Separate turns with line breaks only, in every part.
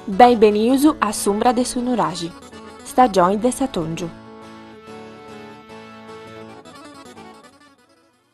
Benibenius a s'umbra de su nuraxi, stagioni de s'atòngiu.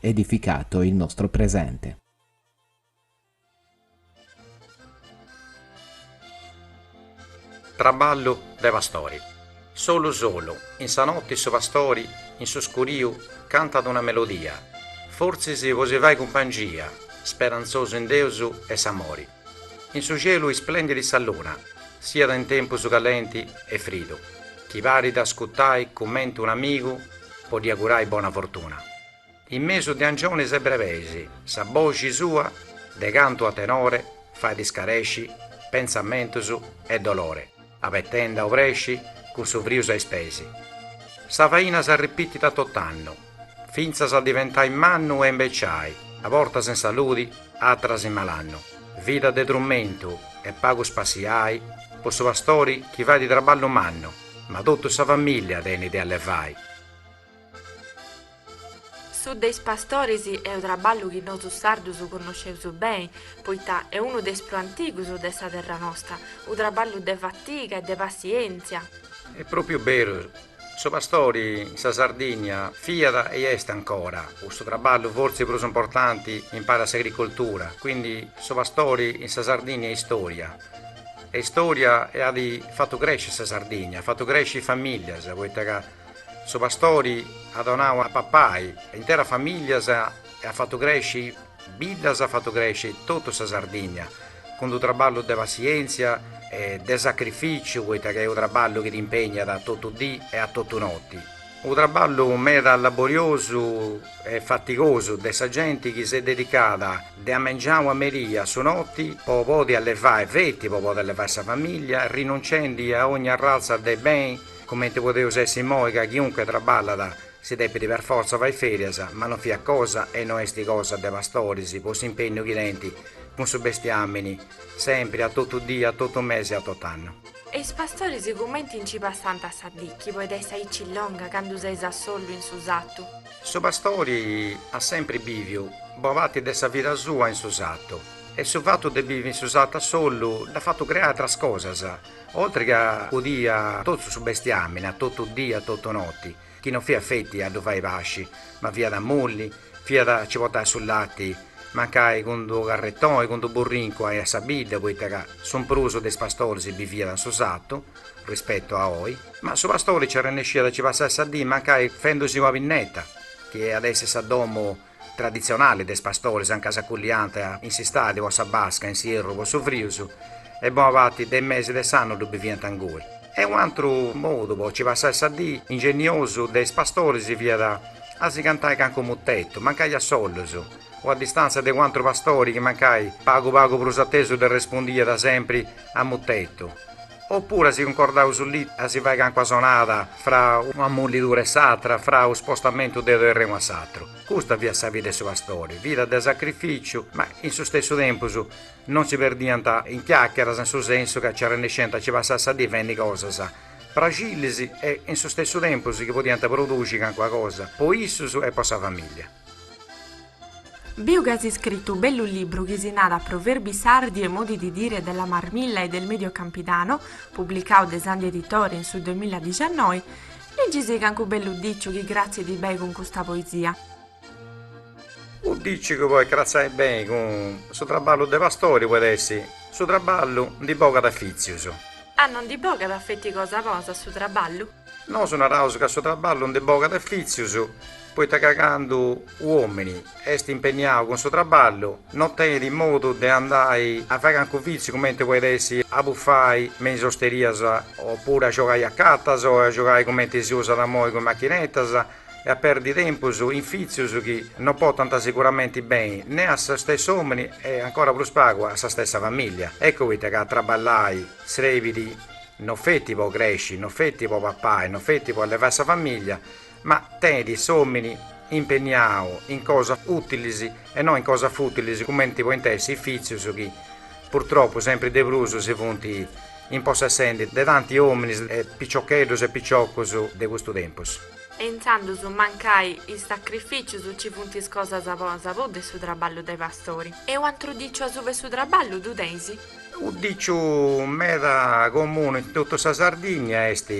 edificato il nostro presente.
Traballu de pastori. Solu solu, in sa notti su pastori in su scuriu cantat una melodia, fortzis po si fai cumpangia, speranzosu in Deus e s'amori. In su cielu isplendit sa luna, siat in tempus calenti e fridu, chi parit ascutai cumenti un amigu po ddi agurai bona fortuna. In mesu de angionis e brebeis sa boxi sua de cantu a tenore fait iscaresci pentzamentus e dolore abetendi a obresci cun su friu sa ispesi. Sa faina s'arripitit a tot'annu. fintzas a diventai mannu e imbeciai, a bortas in saludi, atras in malannu, vida de trumentu e pagu spassiai po su pastori chi fait traballu mannu, ma totu sa famìllia tenit de allevai.
Su de is pastoris est u traballu chi nosu sardus connosceus beni, poita est unu de is prus antigus de sa terra nosta, u traballu de fatiga e de passientzia. Est propriu
beru Su pastori in sa Sardìnnia fiat e est ancora, cussu traballu fortzis prus importanti in pari a s'agricoltura, quindi su pastori in sa Sardìnnia est istòria, est istòria e at fatu crèsciri sa Sardìnnia, at fatu crèsciri famìllias, poita ca su pastori at donau a papai a interas famìllias e at fatu crèsciri Biddas at fatu cresci totu sa Sardigna, cun-d-u traballu de passièntzia e de sacrifìciu, poita ca est u traballu chi t'impègnat a totu dì e a totu noti. U traballu meda laboriosu e fatigosu de sa genti chi s'est dedicada de amengiau a merì a su noti po podi allevai, feti po podi allevai sa famìllia, rinunciendi a ogni arraltza de beni, cumenti podeus essi imoi ca chiunque traballat, Si depit per fortza fai ferias, ma no fiat cosa e no est cosa de pastoris po s'impegnu chi tenint cun su bestiamini sempri a totu die a totu mesi e a totu annu. E is pastoris
cumenti nci passant sa dì chi podit essi aici longa candu seis a sollu in su satu? Su
pastori at sempri biviu bo parti de sa vida sua in su satu e su fatu de bivi in su satu a sollu dd'at fatu creai atras cosas, Oltri ca acudì a totu su bestiamini, a totu dì a totu noti, chi no fiat feti a ddu fai pasci, ma fiat a mulli, fiat a ci portai su lati, mancai cun d'unu carretoni, cun d'unu burrincu a sa bidda, poita ca su prus de is pastoris biviat in su satu, rispetu a oi. Ma su pastori nci arrennesciat a ci passai sa dì mancai fendusì una pinneta, chi iat essi sa domu. traditzionali de is pastoris anca s'aculliant in s'istadi po sa basca in s'ierru po su frius e bona parti de is mesi de s'annu ddu biviant ingui. E unu atru modu po ci passai sa dì ingenniosu de is pastoris fiat a si cantai cancu mutetu, mancai a sollus, o a distàntzia de u' atru pastori chi mancai pagu pagu prus atesu ddi arrespundiat sempri a mutetu, opuru si cuncordàt u sulitu a si fai cancua sonada fra una mullidura e s'atra, fra u spostamentu de u terrenu a s'atru. Custa fiat sa vida 'e su pastori, vida de sacrificiu, ma in su stessu tempus non si perdiant in chiacheras in su sensu ca ci arrennesciant a ci passai sa dì fendi cosas praxillis e in su stessu tempus chi podiant produxi cancuna cosa po issus e po sa familia.
Biu ca as iscritu bellu libru chi si narat Proverbi sardi e modi di dire della Marmilla e del Medio Campidano, publicau de Sandhi Editore in su duemiladiciannoi, ligisì cancu bellu diciu chi cratzit bei cun custa poesia.
U diciu chi podit cratzai bei cun su traballu de pastori poit essi, Su traballu ndi bogat fitzius. A no ndi bogat
feti cosa cosa su traballu? Nosu
naraus ca su traballu ndi bogat fitzius poita ca candu u omini est impenniau cun su traballu no tenit modu de andai a fai cancu fitziu cumenti poit essi a buffai me is osterias opuru a giogai a catas o a giogai cumenti si usat amoi cun machinetas e a perdi tempus in fitzius chi no potant sicuramenti beni ne a su stessu omini e ancora prus pagu a sa stessa familia. Eccu poita ca traballai srebit No feti po cresci, no feti po papai, no feti po allevai sa famiglia, ma tenit s'omini impenniau in cosas utilis e no in cosas futilis cumenti point essi is fitzius chi, purtropu, sempri de prus si funt impossessendi de tanti ominis e piciocheddus e piciocus de custu tempus. E
intzandus mancai is sacrificius nci funt is cosas po sa pudda e su traballu de pastori. E u antru diciu asuba 'e su traballu ddu teis? U
diciu meda comunu in totu sa Sardigna est,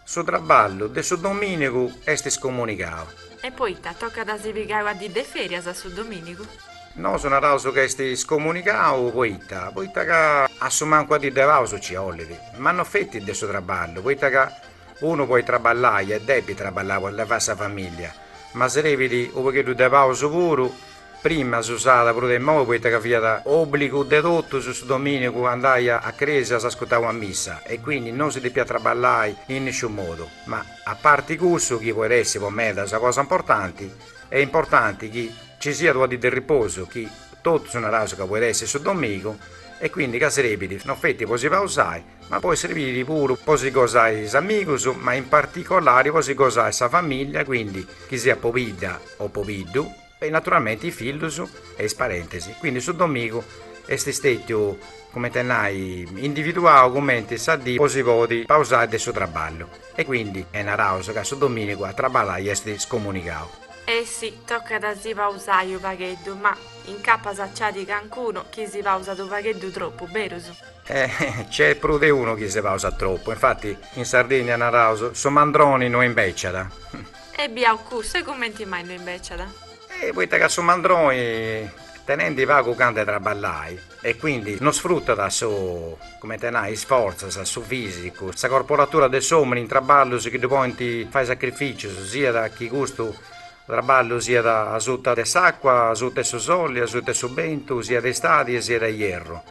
Su traballu de su domìnigu est scomunicau. E poita
tocat a si pigai una dì de fèrias a su domìnigu? Nosu naraus
ca est scomunicau poita, poita ca a su mancu ua dì de pausu nci 'olit, ma no feti de su traballu, poita ca unu podit traballai e depit traballai po allevai sa famìllia, ma srebit u' pagheddu de pausu puru Prima s'usàt prus de imoi poita ca fiat òbligu de totus su domìnigu andai a crèsia s'ascutau a missa e quindi no si depiat traballai in nisciunu modu, ma a parti cussu chi poit essi po meda sa cosa importanti, est importanti chi ci siat una dì de riposu chi totus naraus ca poit essi su domìnigu e quindi ca serbit no feti po si pausai ma poit serbiri puru po si gosai is amigus ma in particolari po si gosai sa famìllia quindi chi siat pobidda o pobiddu. E naturalmente is fillus e is parentes, quindi su domìnigu est stètiu, cumenti a nai, individuau cumenti sa dì po si podi pausai de su traballu, e quindi naraus ca su domìnigu a traballai est scomunigau. E
sì, tocat a si pausai u' pagheddu, ma incapas nci at calincunu chi si pausat u' pagheddu tropu, berus? E nc'est
prus de unu chi si pausat tropu, infati in Sardinnia naraus, su mandroni no imbèciat. E
biau cussu cumenti mai no imbeciada. E poita ca
su mandroni tenendi pagu gana 'e traballai e quindi no sfrutat su, cumenti a nai, isfortzat, su fisicu, sa corporatura de s'omini in traballus chi ddu podint fai sacrificius, siat chi custu traballu siat asuta de s'acqua, asuta 'e su soli, asuta 'e su bentu, siat 'e istadi e siat 'e ierru.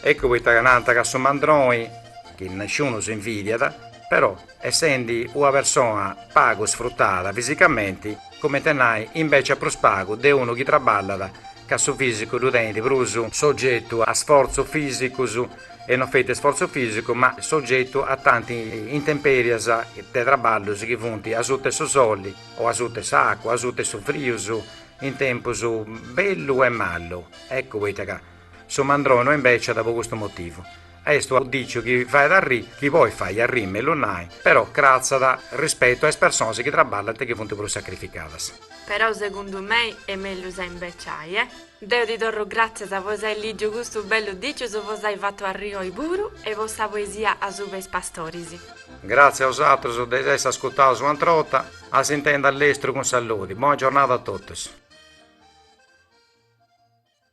Eccu poita ca nant ca su mandroni, chi nisciunus invidiat, però essendi una persona pagu sfrutada fisicamenti, cumenti a nai, imbeciat prus pagu de unu chi traballat ca su fisicu ddu tenit prus sogetu a sforzus fisicus e non feti sforzu fisicu ma sogetu a tanti intemperias de traballus chi funt asuta 'e su soli o asuta 'e s'acua o asuta 'e su frius in tempus bellu e malu. Eccu poita ca Su mandroni no imbeciat po custu motivu. Est unu diciu chi fait arriri, chi podit fai arriri mellus nai, però cratzat rispetu a is personas chi traballent e chi funt prus sacrificadas. Però segundu
mei est mellus a imbeciai, e. Deu ti torru gràtzias po s'ai lìgiu custu bellu diciu, po s'ai fatu arriri oi puru e po sa poesia Asuba is pastoris. Gràtzia
a bosatrus de s'essi ascutaus un'atra borta, a s'intendi a lestru cun saludi, bona giornada a totus.